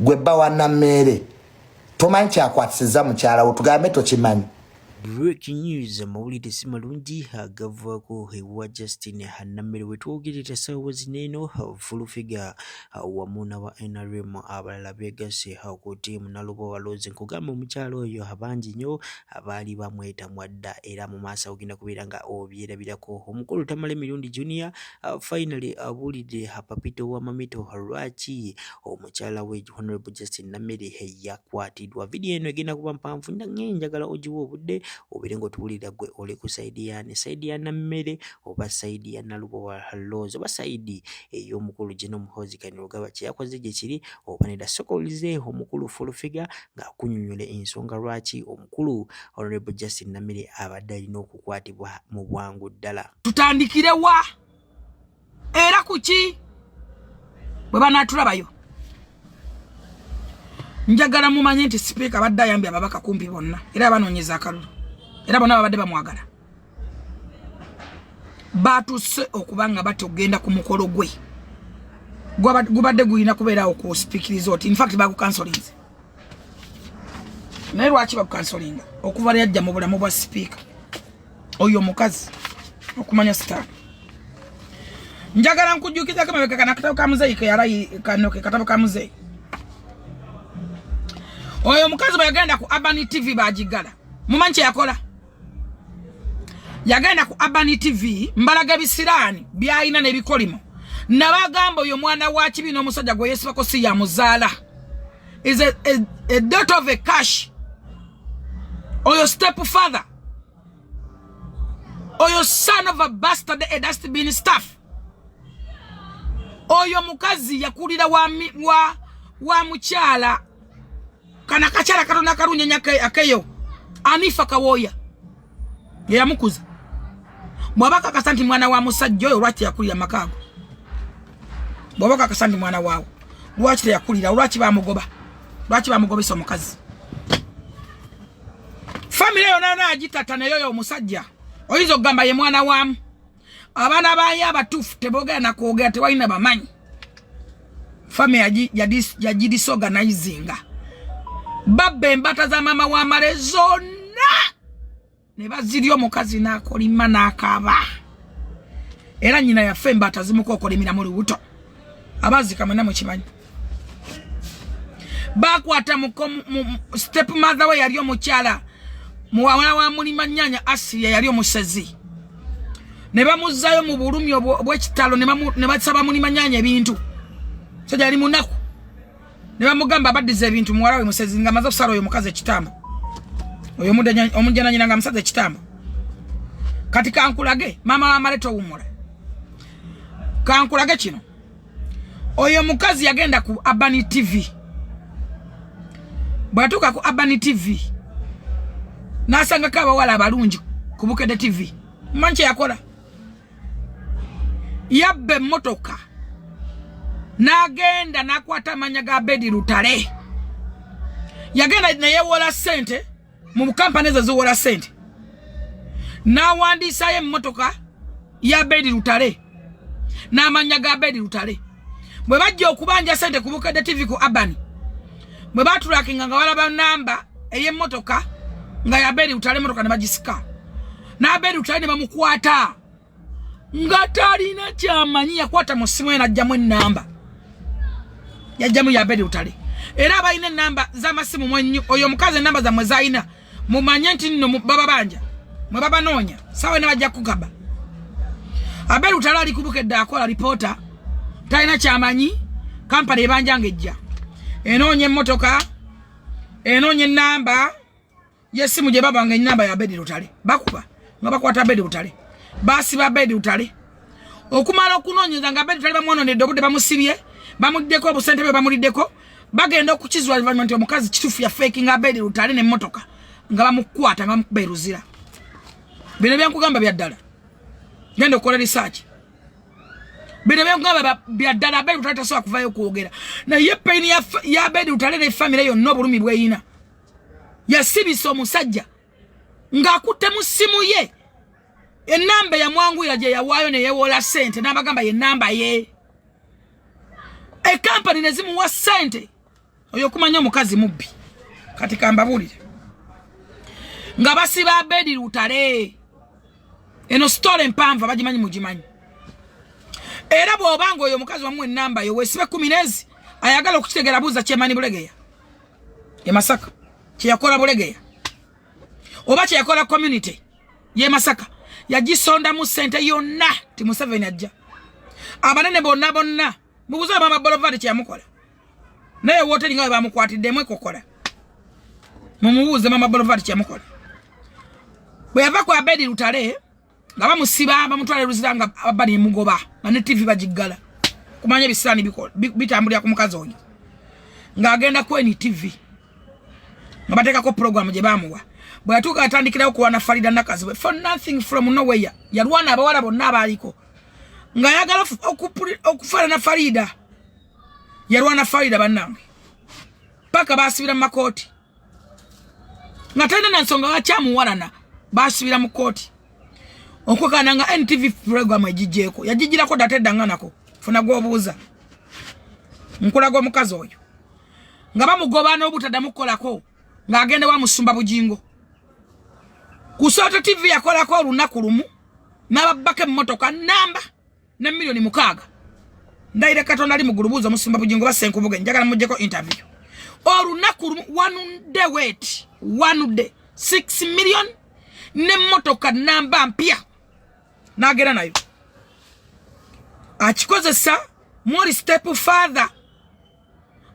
gwe bba wa nammeere tomanyi kyakwatisiza mukyala wo tugambe tokimanyi breaking news amawulire si malungi agavaako ewa justin hanammere wetwogerera saawa zineeno fulufiga wamu naba nrm abalala beegase ku tiimu naluba waloozi nkugamba omukyalo oyo abangi nnyo abaali bamwetamwa dda era mu maaso agenda kubeera nga obyerabirako omukulu tamala emirundi junior Uh, finally abuulidde uh, papito wa mamito lwaki omukyala we honorable justin namere yakwatidwa vidiyo eno egenda kuba mpanvu nange njagala ogiwa obudde obeere ngaotuwulira gwe oli ku saidi yani saidi ya nammere oba saidi ya nalubowa hallozi oba saidi ey'omukulu eh, gino muhozi kanirugaba kyeyakoze gye kiri oba neda soka olize omukulu fulufiga ng'akunyonyola ensonga lwaki omukulu honorable justin namere abadde alina okukwatibwa mu bwangu ddala tutandikire wa era kuki bwe banaatulabayo njagala mumanye nti sipiika abadde ayambye ababaka kumpi bonna era abanoonyeza akalulu era bonna babadde bamwagala baatuse okuba nga batya okugenda ku mukolo gwe gubadde gulina kubeerawo ku sipiikiriza oti infact bagukansolinze naye lwaki bagukansolinga okuva lyajja mu bulamu bwa sipiika oyo omukazi okumanya sitaani njagala nkujjukizako emabega kana katabo ka muzeeyi keyalayi kano ke katabo ka muzeeyi oyo omukazi bwe yagenda ku urban tv bagiggala mumanyi kye yakola yagenda ku urban tv mbalaga ebisiraani byalina n'ebikolimo nabagamba oyo mwana wa kibi n'omusajja gwe yeesibako si yamuzaala is a, a, a dot of a cash oyo step father oyo son of a bastard a dustbin staff oyo mukazi yakulira wa, wa, wa mukyala kana kakyala katona karunyenya akeyo anifa kawoya yeyamukuza bwaba kakasa nti mwana wa musajja oyo lwaki yakulira makaago bwaba kakasa nti mwana waawo lwaki teyakulira lwaki bamugoba lwaki bamugobesa omukazi famire yona yona yagitata naye oyo omusajja oyinza okugamba ye mwana wamu abaana baye abatuufu tebogera nakwogera tewalina bamanyi fami yagidisorganizinga babba embata za maama wa male zonna ne bazirya omukazi n'akolima n'akaaba era nyina yafe embata zimuka okolimira mu lubuto abazika mwena mukimanyi bakwata step mother we yali omukyala muwala wa mulima nyanya asiya yali omusezi ne bamuzzayo mu bulumi obwekitalo ne basaba mulima nyanya ebintu so gyali munaku ne bamugamba abaddiza ebintu muwala we musezi nga amaze okusala oyo mukazi ekitambo oyo omujananyina nga musaza ekitambo kati kankulage maama wamale towumula kankulage kino oyo mukazi yagenda ku abani tv bwatuuka ku abani tv nasangako abawala abalungi ku bukede tv manyi kyeyakola yabba emmotoka n'agenda n'akwata amanya ga bedi lutale yagenda neyewola sente mu kampani ezo ziwola sente n'awandiisayo emmotoka ya bedi lutale n'amanya ga bedi lutale bwe bajja okubanja sente ku bukadde tv ku urban bwe batulakinga nga balaba namba ey'emmotoka nga ya bedi lutale emmotoka ne bagisika n'abeeru tali ne bamukwata nga talina kyamanyi yakwata mu ssimu ye n'ajjamu ennamba yajjamu yabeeru tali era abalina ennamba z'amasimu mwenyu oyo omukazi ennamba zammwe zalina mumanye nti nno bababanja mwe babanoonya sawa ne bajja kukaba abeeru tali ali kubukedde akola lipoota talina kyamanyi kampala ebanja ng'ejja enoonya emmotoka enoonya ennamba yesimu gye babanga enamba ya bedi lutale bakuba nga bakwata bedi lutale basiba bedi lutale okumala okunoonyeza nga bedi lutale bamwononedde obudde bamusibye bamuddeko obusente bwe bamuliddeko bagenda okukizula luvannyuma nti omukazi kitufu ya feki nga bedi lutale nemotoka nga bamukwata nga bamukuba eruzira bino byankugamba byaddala genda okukola risaaki bino byankugamba byaddala bedi lutale tasobola kuvayo okwogera naye peyini ya bedi lutale ne famire yonna obulumi bweyina yasibisa omusajja ng'akutte mu ssimu ye enamba yamwanguyira gye yawaayo ne yewola ssente n'abagamba ye namba ye ekampani ne zimuwa ssente oyo kumanya omukazi mubbi kati kambabuulire nga basiba abedi lutale eno sitoola empanvu abagimanyi mugimanyi era bw'oba nga oyo omukazi wamu enamba yo weesibe kumi neezi ayagala okukitegeera buuza kyemani bulegeya e masaka kyeyakola bulegeya oba kyeyakola community ye masaka yagisondamu sente yonna ti museveni ajja abanene bonna bonna mubuze mama bolovadi kyeyamukola naye woteri nga webamukwatiddemu ekokola mumubuuze mama bolovadi kyeyamukola bweyava ku abedi lutale nga bamusiba bamutwala eluzira nga abba nemugoba nga ne tv bagiggala kumanya ebisaani bitambulira ku mukazi oyo ng'agenda ku eni tv nga bateekako pulogulaamu gye baamuwa bwe yatuuka yatandikirawo kulwana farida nakazibwe for nothing from noweya yalwana abawala bonna abaaliko ng'ayagala okufaanana farida yalwana farida bannange paka basibira mu makooti nga talina na nsonga lwaki amuwalana basubira mu kooti okwekana nga ntv program egigyeko yagigirako data eddanganako funa gwobuuza nkulaga omukazi oyo nga bamugoba n'obutadamu kukolako ng'agenda wa musumba bugingo kusooto tv yakolako olunaku lumu n'ababbako emmotoka namba ne milioni mukaaga ndayira katonda ali mugulu buuza omusumba bugingo basenkubuge njagala mujjeko interview olunaku lumu one day wet one day six million ne motoka namba mpya nagera nayo akikozesa mori step father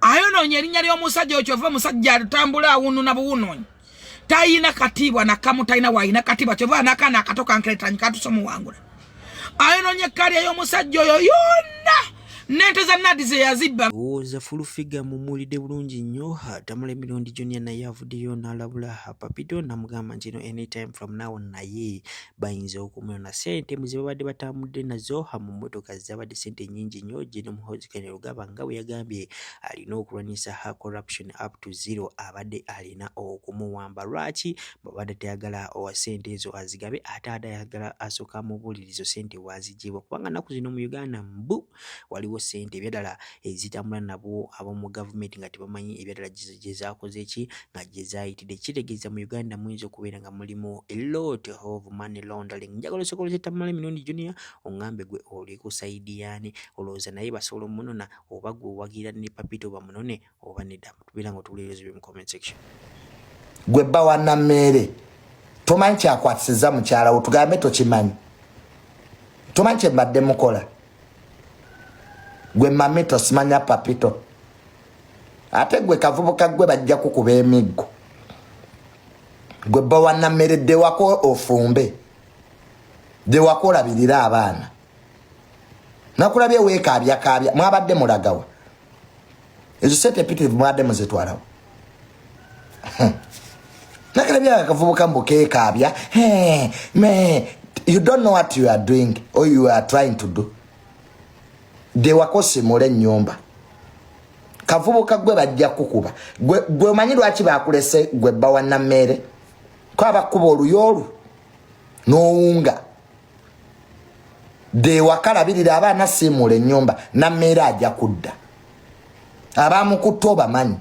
ayononye erinnya ly'omusajja oyo kyova omusajja atambula awununa buwunonyi tayina katiibwa nakamu tayina wayina katiibwa kyova nakaana akato kankeretanyi katuse omuwangula ayononye ekkali ey'omusajja oyo yonna nente za nadi zeyazibba owooza fulufiga mumuwulidde bulungi nnyo atamula emirundi gyonna naye avuddeyo n'alabula papito namugamba nti no anytime from now naye bayinza okumwona ssente mu ze babadde batambudde nazo mu mmotoka zaabadde ssente nnyingi nnyo Gen Muhoozi Kainerugaba nga bwe yagambye alina okulwanyisa ha corruption up to zero abadde alina okumuwamba lwaki babadde tayagala owa ssente ezo azigabe ate ada ayagala asooka amubuulirizo ssente waazigyebwa kubanga nnaku zino mu Uganda mbu waliwo sente ebyadala ezitambula nabo abomu gavumenti nga tebamanyi ebyadala gyezakoze ki nga gyezayitidde kitegeeza mu uganda muyinza okubeera nga mulimu elot of money laundering njagala osobola kyetamala emirundi junior ongambe gwe oli ku saidi yani olowooza naye basobola omunona oba gwe owagira ne papito bamunone oba nedda tubeera nga otuwulira ebizibu mu comment section gwe bba wa nammeere tomanyi kyakwatisiza mukyala wo tugambe tokimanyi tomanyi kyembadde mukola gwe mamito simanya papito ate gwe kavubuka gwe bajja kukuba emiggo gwe bba wa nammeere dewako ofumbe dewako olabirire abaana nakulabye weekaabya kaabya mwabadde mulagawa ezo sente empitirivu mwade muzetwalawo nakalabya akavubuka mbu kekaabya me you don't know what you are doing or you are trying to do dewakosimula enyumba kavubuka gwe bajja kukuba gwe omanyi lwaki bakulese gwe bawa nameere ko abakuba oluyolu nowunga no dewakalabirira aba anasiimuula ennyumba nammeera ajja kudda abamukutte obamanyi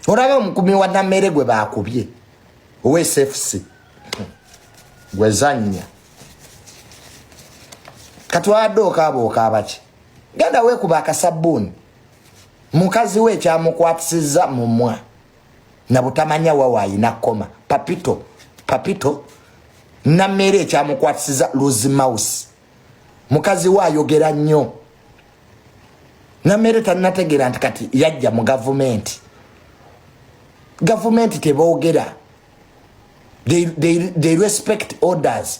olaba omukumi wa nammeere gwe baakubye owesfc gwezannya kati wabadde okaaba okaabaki genda weekuba akasabbuuni mukazi we ekyamukwatisizza mumwa nabutamanya wawa ayina koma papito papito nameere ekyamukwatisiza lose mouse mukazi we ayogera nnyo nameere tanategera nti kati yajja mu gavumenti gavumenti tebogera they, they, they respect orders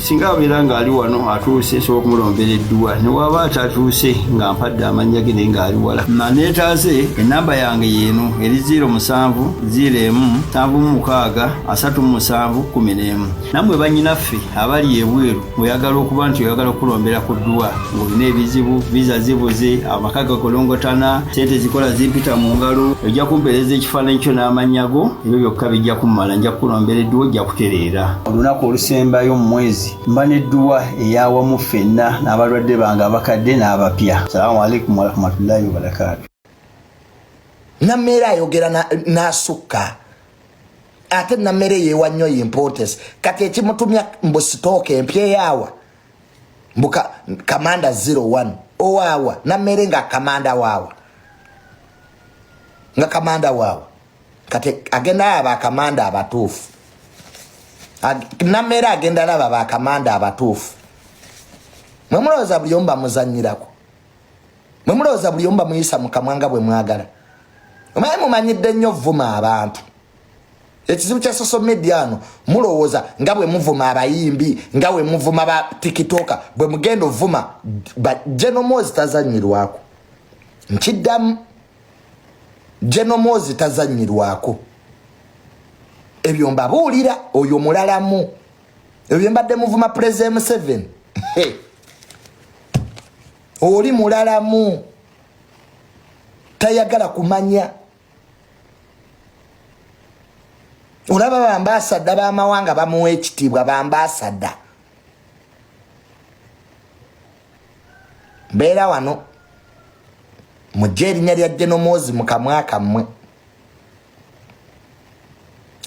singa abeera ng'ali wano atuuse nsobola okumulombera edduwa ne waaba atatuuse nga mpadde amannya ge naye ng'ali wala maneetaaze ennamba yange yeeno eri 0 musanvu 0 emu nsanvu mu mukaaga asatu mu musanvu kumi n'emu nammwe bannyinaffe abali ebweru oyagala okuba nti oyagala okulombera ku dduwa ng'olina ebizibu viza zibuze amaka gakolongotana sente zikola zimpita mu ngalo ojja kumpeereza ekifaananyi kyo n'amannya go ebyo byokka bijja kummala nja kukulombera edduwa ojja kutereera olunaku olusembayo mu mwezi mba n'edduwa eyawamu ffenna n'abalwadde bange abakadde n'abapya salaamu aleikum warahmatullahi wabarakaatu nammeera ayogera n'asukka ate nammere yeewa nnyo yimpootesi kati ekimutumya mbu sitooka empyeyaawa mbu kamanda 01 owaawa nammere nga kamanda waawa nga kamanda waawa kati agenda laba bakamanda abatuufu nameera agenda laba bakamanda abatuufu mwe mulowooza buli omu bamuzanyirako mwe mulowooza buli omu bamuyisa mukamwa nga bwe mwagala omaye mumanyidde nnyo vuma abantu ekizibu kya social media ano mulowooza nga bwe muvuma abayimbi nga bwe muvuma ba tikitoka bwe mugenda ovuma genomozi tazanyirwako nkiddamu genomoozi tazanyirwako ebyo mbabuulira oyo mulalamu ebyo mbadde muvuma puleze museveni oli mulalamu tayagala kumanya olaba bambasadda bamawanga bamuwa ekitiibwa bambasadda mbeera wano mujje erinya lya jenomozi mukamwa kammwe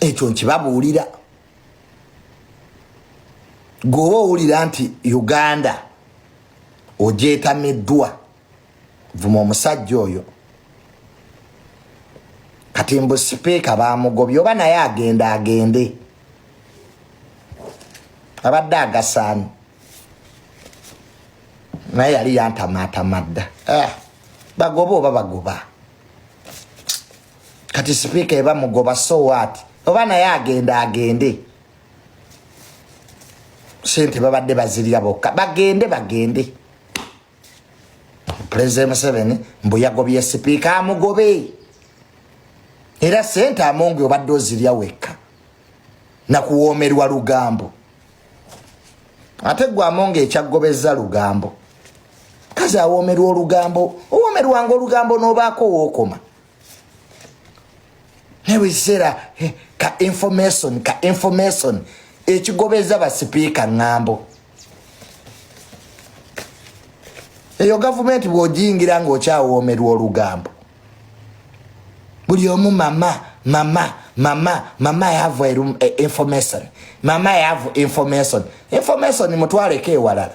ekyo nkibabuulira gweoba owulira nti uganda ogyetamiddwa vuma omusajja oyo kati mbu sipiika bamugobye oba naye agenda agende abadde agasaani naye yali yantamaatama dda ah, bagoba oba bagoba kati sipiika eba mugoba so wat oba naye agenda agende sente babadde bazirya bokka bagende bagende pulezidenti museveni mbu yagobye sipiika amugobe era sente amongi obadde ozirya wekka na kuwoomerwa lugambo ate gwe amonga ekyaggobezza lugambo kazi awoomerwa olugambo owoomerwanga olugambo n'obaako wookoma naye buli kiseera eh, ka information ka information ekigobeza basipiika ŋŋambo eyo gavumenti bw'ogiyingira ng'okyawoomerwa olugambo buli omu mama mama mama mama yavu eh, information mama yavu information information mutwaleko ewalala